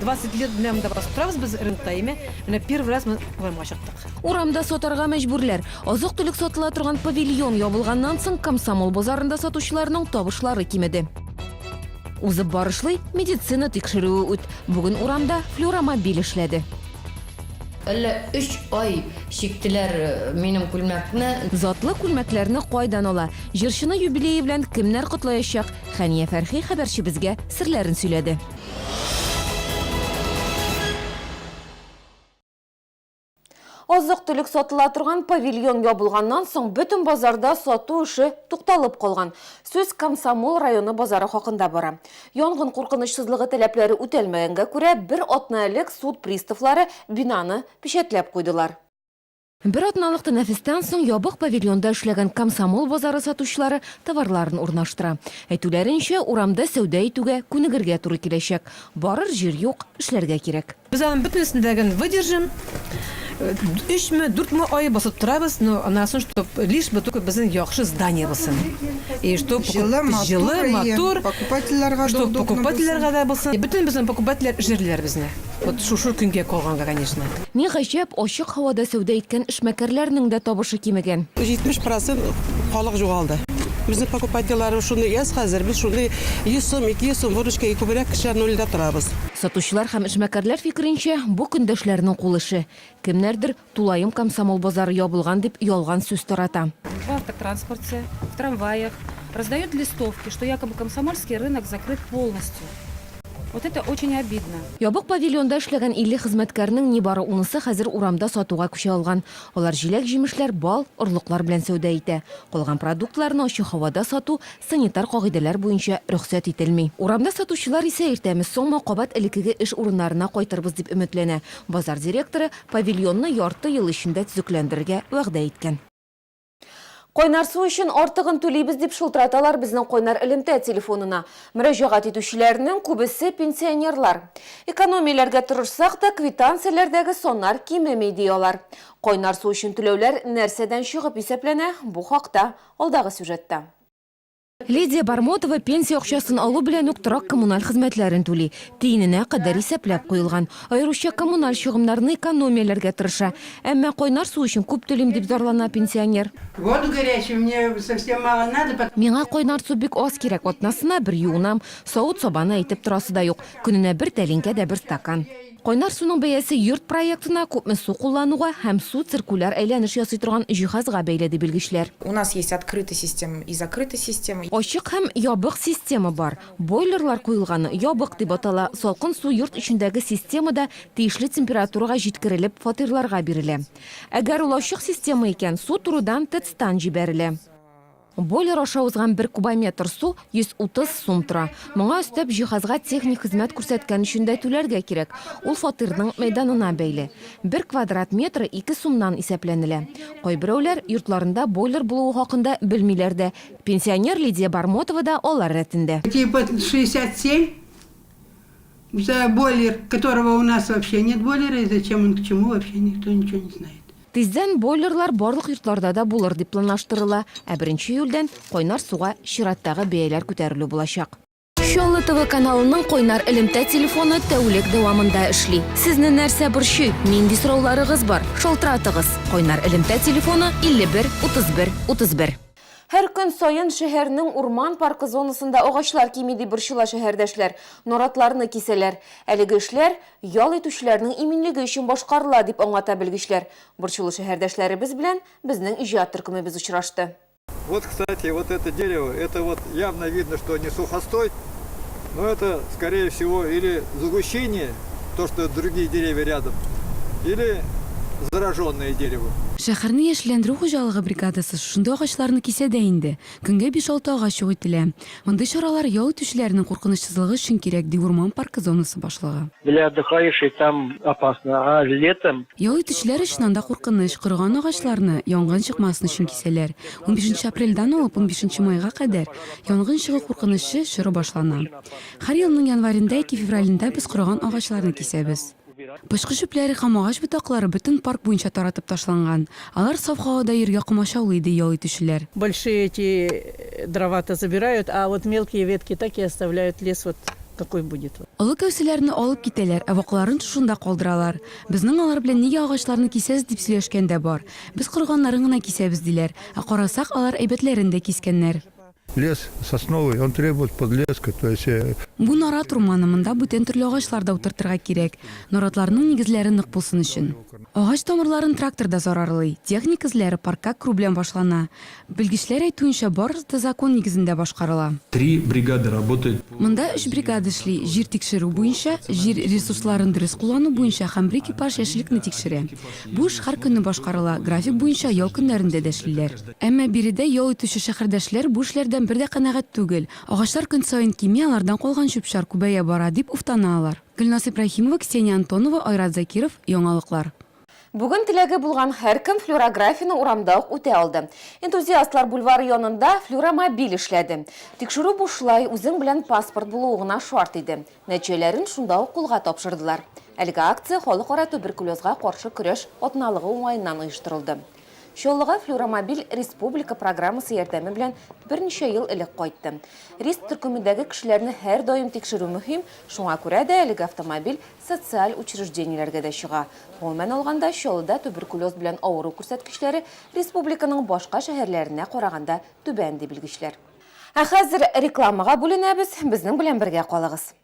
20 лет белән дә басып торабыз без рынокта, әйме? Менә первый раз мы урамга чыктык. Урамда сатарга мәҗбүрләр. Азык-төлек сатыла торган павильон ябылганнан соң Комсомол базарында сатучыларның табышлары кимеде. Узып барышлый медицина тикшерүе үт. Бүген урамда флюромобиль эшләде. Әллә өч ай чиктеләр минем күлмәкне. Затлы күлмәкләрне кайдан ала? Җырчыны юбилее белән кемнәр котлаячак? Хәния Фәрхи хәбәрчебезгә серләрен сөйләде. Азык-төлек сатыла торган павильон ябылганнан соң, бөтен базарда сату эше тукталып калган. Сүз Комсомол районы базары хакында бара. Янгын куркынычсызлыгы таләпләре үтәлмәгәнгә күрә, бер атна элек суд приставлары бинаны печәтләп куйдылар. Бер атналык тәнәфестән соң ябык павильонда эшләгән Комсомол базары сатучылары товарларын урнаштыра. Әйтүләренчә, урамда сәүдә итүгә күнегергә туры киләчәк. Барыр җир юк, эшләргә кирәк. Без аның бөтенесен дә гел выдержим, өчме, дүртме ай басып торабыз, но анасын чтоб лишь бы только безнең яхшы здание булсын. И чтоб Җылы, матур, җылы, матур, покупательләргә дә чтоб удобно покупательләргә булсын. дә булсын. Бөтенебезнең покупательләр җирлиләр безне. Вот шушы көнгә калганга, конечно. Ни гаҗәп, ачык һавада сәүдә иткән эшмәкәрләрнең дә табышы кимегән. 70 процент халык җугалды. Безнең покупательләр шундый әз хәзер, без шундый 100 сум, 200 сум выручкага күбрәк кешеләр нольдә торабыз. Сатучылар һәм эшмәкәрләр фикеренчә, бу көндәшләрнең кул эше. Кемнәрдер Тулаем Комсомол базары ябылган дип ялган сүз тарата. В автотранспорте, в трамваях раздают листовки, что якобы Комсомольский рынок закрыт полностью. Вот это очень обидно. Ябык павильонда эшләгән 50 хезмәткәрнең нибары унысы хәзер урамда сатуга күчә алган. Алар җиләк-җимешләр, бал, орлыклар белән сәүдә итә. Калган продуктларны ачы һавада сату санитар кагыйдәләр буенча рөхсәт ителми. Урамда сатучылар исә иртәме-соңмы кабат элеккеге эш урыннарына кайтырбыз дип өметләнә. Базар директоры Павильонны ярты ел эчендә төзекләндерергә вәгъдә иткән. Кайнар су өчен артыгын түлибез, дип шылтыраталар безнең кайнар элемтә телефонына. Мөрәҗәгать итүчеләрнең күбесе, пенсионерлар. Экономияләргә тырышсак та, квитанцияләрдәге саннар кимеми, ди алар. Кайнар су өчен түләүләр нәрсәдән чыгып исәпләнә, бу хакта, алдагы сюжетта. Лидия Бармотова пенсия акчасын алу белән үк торак-коммуналь хезмәтләрен түли. Тиененә кадәр исәпләп куелган. Аеруча коммуналь чыгымнарны экономияләргә тырыша. Әмма кайнар су өчен күп түлим, дип зарлана пенсионер. Воду горячую мне совсем мало надо. Миңа кайнар су бик аз кирәк, атнасына бер юынам. Савыт-сабаны әйтеп торасы да юк. Көненә бер тәлинкә дә бер стакан. Кайнар суның бәясе йорт проектына, күпме су куллануга һәм су циркуляр әйләнеш ясый торган җиһазга бәйле, ди белгечләр. У нас есть открытый система и закрытый система. Ачык һәм ябык система бар. Бойлерлар куелганы ябык дип атала, салкын су йорт эчендәге системада тиешле температурага җиткерелеп фатирларга бирелә. Әгәр ул ачык система икән, су турыдан ТЭЦтан җибәрелә. Бойлер аша узган бер кубометр су 130 сум тора. Моңа өстәп, җиһазга техник хезмәт күрсәткән өчен дә түләргә кирәк. Ул фатирның мәйданына бәйле. Бер квадрат метры ике сумнан исәпләнелә. Кайберәүләр йортларында бойлер булуы хакында белмиләр дә. Пенсионер Лидия Бармотова да алар рәтендә. Эти под 67 за бойлер, которого у нас вообще нет бойлера, и зачем он к чему, вообще никто ничего не знает. Тиздән бойлерлар барлык йортларда да булыр дип планлаштырыла, ә беренче июльдән кайнар суга чираттагы бәяләр күтәрелү булачак. Чаллы ТВ каналының кайнар элемтә телефоны тәүлек дәвамында эшли. Сезне нәрсә борчый, нинди сорауларыгыз бар? Шалтыратыгыз. Кайнар элемтә телефоны, 51 31 31. Һәр көн саен шәһәрнең урман паркы зонасында агачлар кими, дип борчыла шәһәрдәшләр, наратларны кисәләр. Әлеге эшләр ял итүчеләрнең иминлеге өчен башкарыла, дип аңлата белгечләр. Борчулы шәһәрдәшләребез белән безнең иҗат төркемебез очрашты. Вот кстати вот это дерево это вот явно видно что не сухостой. Ну это скорее всего или загущение, то что другие деревья рядом, или зараженное дерево. Шәхәрне яшелләндерү хуҗалыгы бригадасы шушындый агачларны кисә дә инде. Көнгә биш-алты агач юк ителә. Мондый чаралар ял итүчеләрнең куркынычсызлыгы өчен кирәк, ди урман паркы зонасы башлыгы. Для отдыхающих там опасно, а летом. Ял итүчеләр өчен анда куркыныч, корыган агачларны, янгын чыкмасын өчен кисәләр. Унбишенче апрельдән алып унбишенче майга кадәр Янгын чыгу куркынычы чоры башлана. Һәр елның январендә яки февралендә без корыган агачларны кисәбез. Пычкы чүпләре һәм агач ботаклары бөтен парк буенча таратып ташланган. Алар саф һавада йөрергә комачаулый, ди ял итүчеләр. Большие эти дрова-то забирают, а вот мелкие ветки так и оставляют, лес вот такой будет вот. Олы кәүсәләрне алып китәләр, ә вакларын шушында калдыралар. Безнең алар белән нигә агачларны кисәсез дип сөйләшкән дә бар. Без корганнарын гына кисәбез, диләр. Ә карасак, алар әйбәтләрен дә кискәннәр. Лес сосновый, он требует подлеска, то есть. Э, Бу нарат урманы, монда бүтән төрле агачлар да утыртырга кирәк, наратларның нигезләре нык булсын өчен. Агач тамырларын трактор да зарарлый. Техник эзләре паркка керү белән башлана. Белгечләр әйтүенчә, барысы да закон нигезендә башкарыла. Три бригады работают по. Монда өч бригада эшли, җир тикшерү буенча, җир ресурсларын дөрес куллану буенча һәм бер экипаж яшеллекне тикшерә. Бу эш һәркөнне башкарыла, график буенча ял көннәрендә дә эшлиләр. Әмма биредә ял итүче шәһәрдәшләр бу эшләрдән бер дә канәгать түгел. Агачлар көн саен кими, алардан калган чүп-чар күбәя бара, дип уфтана алар. Гөлназ Ибраһимова, Ксения Антонова, Айрат Закиров, Яңалыклар. Бүген теләге булган һәркем флюорографияне урамда ук үтә алды. Энтузиастлар бульвары янында флюоромобиль эшләде. Тикшерү бушлай, үзең белән паспорт булуы гына шарт иде. Нәтиҗәләрен шунда ук кулга тапшырдылар. Әлеге акция Халыкара туберкулезга каршы көрәш атналыгы уңаеннан оештырылды. Чаллыга Флюромобиль республика программасы ярдәме белән берничә ел элек кайтты. Риск төркемендәге кешеләрне һәрдаим тикшерү мөһим, шуңа күрә дә әлеге автомобиль социаль учреждениеләргә дә чыга. Гомумән алганда, Чаллыда туберкулез белән авыру күрсәткечләре республиканың башка шәһәрләренә караганда түбән, ди белгечләр. Ә хәзер рекламага бүленәбез, безнең белән бергә калыгыз.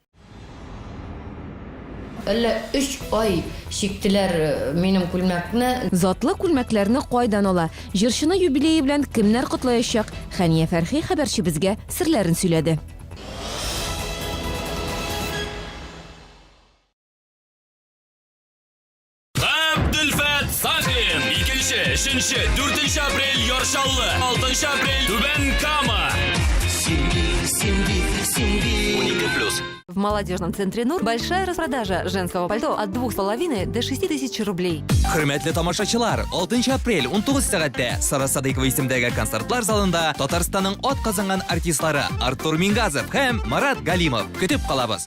Әллә өч ай чиктеләр минем күлмәкне. Затлы күлмәкләрне кайдан ала, җырчыны юбилее белән кемнәр котлаячак, Хәния Фәрхи хәбәрчебезгә серләрен сөйләде. Габделфәт Сафин. Икенче, өченче, дүртенче апрель Яршаллы, алтынчы апрель Түбән Кама. В молодежном центре Нур большая распродажа женского пальто от 2,5 до 6 тысяч рублей. Хөрмәтле тамашачылар, 6 апрель 19 сәгатьтә Сара Садыйкова исемдәге концертлар залында Татарстанның ат казанган артистлары Артур Мингазов һәм Марат Галимов көтеп калабыз.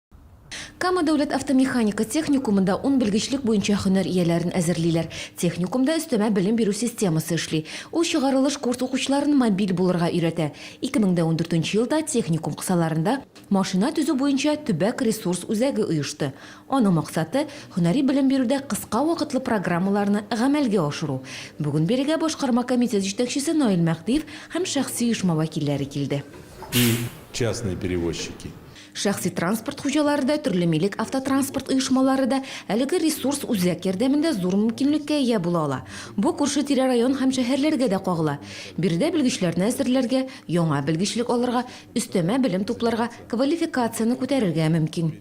Кама дәүләт автомеханика техникумында ун белгечлек буенча һөнәр ияләрен әзерлиләр. Техникумда өстәмә белем бирү системасы эшли. Ул чыгарылыш курс укучыларын мобиль булырга өйрәтә. 2014 елда техникум кысаларында машина төзү буенча төбәк ресурс үзәге оешты. Аның максаты, һөнәри белем бирүдә кыска вакытлы программаларны гамәлгә ашыру. Бүген бирегә башкарма комитет җитәкчесе Наил Мәһдиев һәм шәхси оешма вәкилләре килде. И частные перевозчики! Шәхси транспорт хуҗалары да, төрле милек автотранспорт оешмалары да әлеге ресурс үзәк ярдәмендә зур мөмкинлеккә ия була ала. Бу күрше-тирә район һәм шәһәрләргә дә кагыла. Биредә белгечләрне әзерләргә, яңа белгечлек алырга, өстәмә белем тупларга, квалификацияне күтәрергә мөмкин.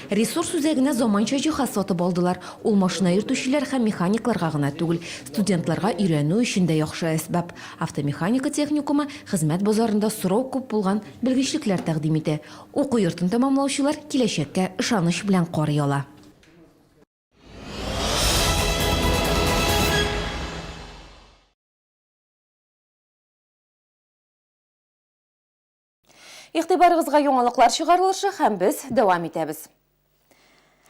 Ресурс үзәгенә заманча җиһаз сатып алдылар. Ул машина йөртүчеләр һәм механикларга гына түгел, студентларга өйрәнү өчен дә яхшы әсбап. Автомеханика техникумы хезмәт базарында сорау күп булган Белгечлекләр тәкъдим итә. Уку йортын тәмамлаучылар киләчәккә ышаныч белән карый ала. Игътибарыгызга яңалыклар чыгарылышы һәм без дәвам итәбез.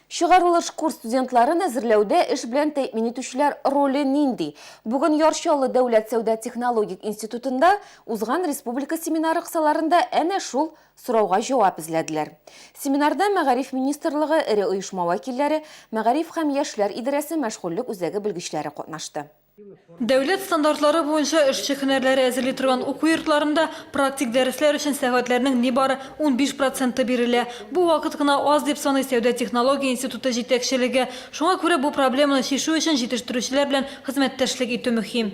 Чыгарылыш курс студентларын әзерләүдә эш белән тәэмин итүчеләр роле нинди? Бүген Яр Чаллы дәүләт сәүдә-технологик институтында узган республика семинары кысаларында әнә шул сорауга җавап эзләделәр. Семинарда Мәгариф министрлыгы, эре оешма вәкилләре, Мәгариф һәм яшьләр идарәсе мәшгульлек үзәге белгечләре катнашты. Дәүләт стандартлары буенча эшче һөнәрләре әзерли торган уку йортларында практик дәресләр өчен сәгатьләрнең нибары 15 проценты бирелә. Бу вакыт кына аз дип саный сәүдә-технология институты җитәкчелеге. Шуңа күрә бу проблеманы чишү өчен җитештерүчеләр белән хезмәттәшлек итү мөһим.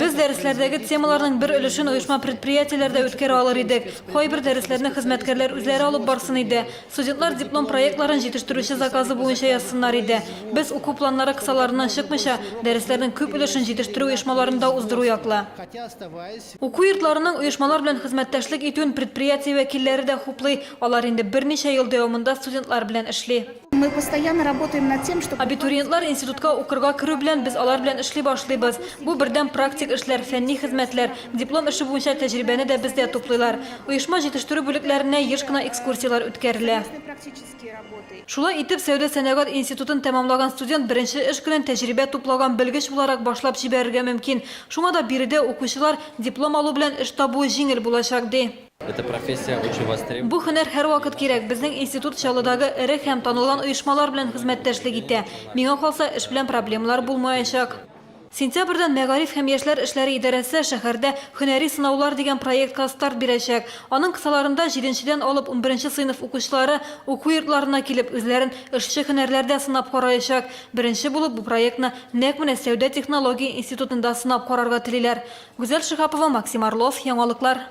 Без дәресләрдәге темаларның бер өлешен оешма-предприятиеләрдә үткәрә алыр идек. Кайбер дәресләрне хезмәткәрләр үзләре алып барсын иде. Студентлар диплом проектларын җитештерүче заказы буенча язсыннар иде. Без, уку планнары кысаларыннан чыкмыйча, дәресләрнең күп өлешен җитештерү оешмаларында уздыру яклы. Уку йортларының оешмалар белән хезмәттәшлек итүен предприятие вәкилләре дә хуплый, алар инде берничә ел дәвамында студентлар белән эшли. Абитуриентлар институтка укырга керү белән, без алар белән эшли башлыйбыз. Бу, бердәм практик эшләр, фәнни хезмәтләр. Диплом эше буенча тәҗрибәне дә бездә туплыйлар. Оешма җитештерү бүлекләренә еш кына экскурсияләр үткәрелә. Шулай итеп, сәүдә-сәнәгать институтын тәмамлаган студент беренче эш көнен тәҗрибә туплаган белгеч буларак башлап җибәрергә мөмкин. Шуңа да биредә укучылар диплом алу белән эш табуы җиңел булачак, ди. Бу һөнәр һәрвакыт кирәк. Безнең институт Чаллыдагы эре һәм танылган оешмалар белән хезмәттәшлек итә. Миңа калса, эш белән проблемалар булмаячак. Сентябрьдән Мәгариф һәм яшьләр эшләре идарәсе шәһәрдә Һөнәри сынаулар дигән проектка старт бирәчәк. Аның кысаларында җиденчедән алып унберенче сыйныф укучылары уку йортларына килеп үзләрен эшче һөнәрләрдә сынап караячак. Беренче булып бу проектны нәкъ менә Сәүдә-технология институтында сынап карарга телиләр. Гүзәл Шиһапова, Максим Орлов, Яңалыклар.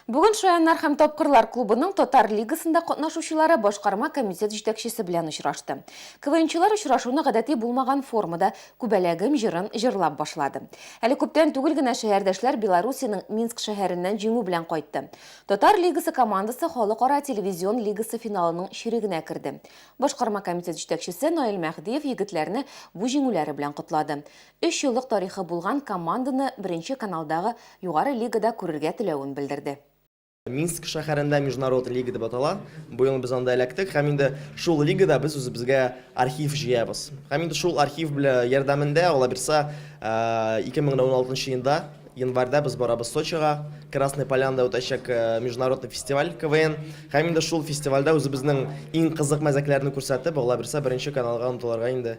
Бүген Шаяннар һәм тапкырлар клубының татар лигасында катнашучылары башкарма комитет җитәкчесе белән очрашты. КВНчылар очрашуны гадәти булмаган формада Күбәләгем җырын җырлап башлады. Әле күптән түгел генә шәһәрдәшләр Белоруссиянең Минск шәһәреннән җиңү белән кайтты. Татар лигасы командасы Халыкара телевизион лигасы финалының чирегенә керде. Башкарма комитет җитәкчесе Наил Мәһдиев егетләрне бу җиңүләре белән котлады. Өч еллык тарихы булган команданы Беренче каналдагы Югары лигада күрергә теләвен белдерде. Минск шәһәрендә Международ лига дип атала. Бу ел без анда эләктек һәм инде шул лигада без үзебезгә архив җыябыз. Һәм инде шул архив белә ярдәмендә, алабирса, 2016 нчы елда, январьда без барабыз Сочига, Красная Полянада үтәчәк Международный фестиваль КВН. Һәм инде шул фестивальдә үзебезнең иң кызык мәзәкләрне күрсәтеп, алабирса Беренче каналга омтылырга инде.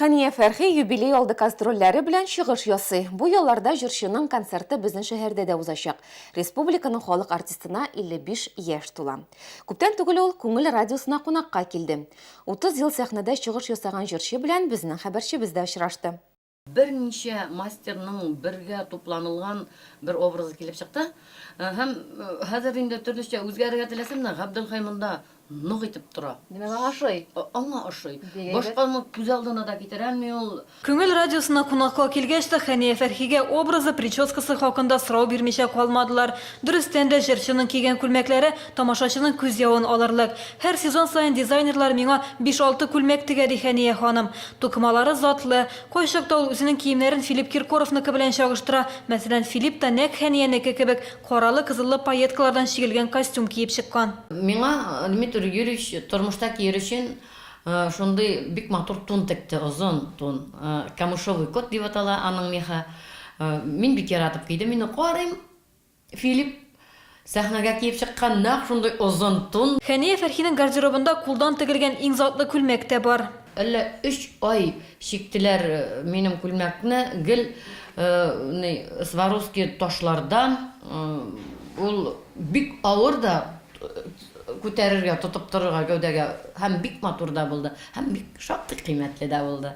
Хәния Фәрхи юбилей алды кастрольләре белән чыгыш ясый. Бу ялларда җырчының концерты безнең шәһәрдә дә узачак. Республиканың халык артистына 55 яшь тула. Күптән түгел ул Күңел радиосына кунакка килде. 30 ел сәхнәдә чыгыш ясаган җырчы белән безнең хәбәрчебез дә очрашты. Берничә мастерның бергә тупланылган бер образы килеп чыкты. Һәм хәзер инде төрлечә үзгәрергә теләсәм дә, Габделхәй монда нык итеп тора. Димәк, аңа ошый. Аңа ошый. Башканы күз алдына да китерә алмый ул. Күңел радиосына кунакка килгәч тә, Хәния Фәрхигә образы, прическасы хакында сорау бирмичә калмадылар. Дөрестән дә, җырчының кигән күлмәкләре тамашачының күз явын алырлык. Һәр сезон саен дизайнерлар миңа биш-алты күлмәк тегә, ди Хәния ханым. Тукымалары затлы. Кайчакта ул үзенең киемнәрен Филипп Киркоровныкы белән чагыштыра. Мәсәлән, Филипп та нәкъ Хәниянеке кебек, каралы-кызыллы пайеткалардан чигелгән костюм киеп чыккан. Миңа Дмитрий Юрьевич тормышта кияр өчен шундый бик матур тун текте, озын тун. Камышовый кот дип атала аның мехы. Мин бик яратып кидем. Мин карыйм, Филипп сәхнәгә киеп чыккан нәкъ шундый озын тун. Хәния Фәрхинең гардеробында кулдан тегелгән иң затлы күлмәк тә бар. Әллә өч ай чиктеләр минем күлмәкне, гел ни Сваровски ташлардан, ул бик авыр да күтәрергә, тотып торырга гәүдәгә, һәм бик матур да булды, һәм бик шактый кыйммәтле дә булды.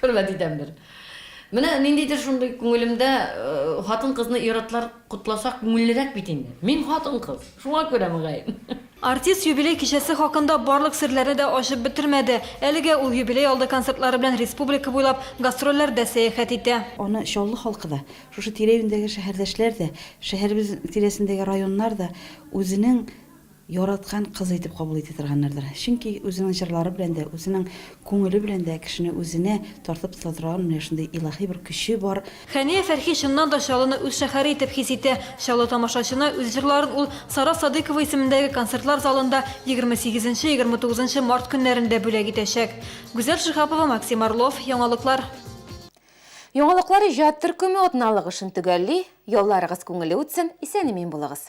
Хөрмәт итәмдер. Менә ниндидер шундый күңелемдә, хатын-кызны ир-атлар котласа күңеллерәк бит инде. Мин хатын-кыз, шуңа күрә мөгаен. Артист юбилей кичәсе хакында барлык серләрне дә ачып бетермәде. Әлегә ул юбилей алды концертлары белән республика буйлап гастрольләрдә сәяхәт итә. Аны Чаллы халкы да, шушы тирә-юньдәге шәһәрдәшләр дә, шәһәребез тирәсендәге районнар да үзенең яраткан кызы итеп кабул итә торганнардыр. Чөнки үзенең җырлары белән дә, үзенең күңеле белән дә кешене үзенә тартып тота торган менә шундый илаһи бер көче бар. Хәния Фәрхи чыннан да Чаллыны үз шәһәре итеп хис итә. Чаллы тамашачына үз җырларын ул Сара Садыйкова исемендәге концертлар залында егерме сигезенче, егерме тугызынчы март көннәрендә бүләк итәчәк. Гүзәл Шиһапова, Максим Орлов, Яңалыклар. Яңалыклар иҗат төркеме атналык эшен төгәлли, ялларыгыз күңелле үтсен, исән-имин булыгыз!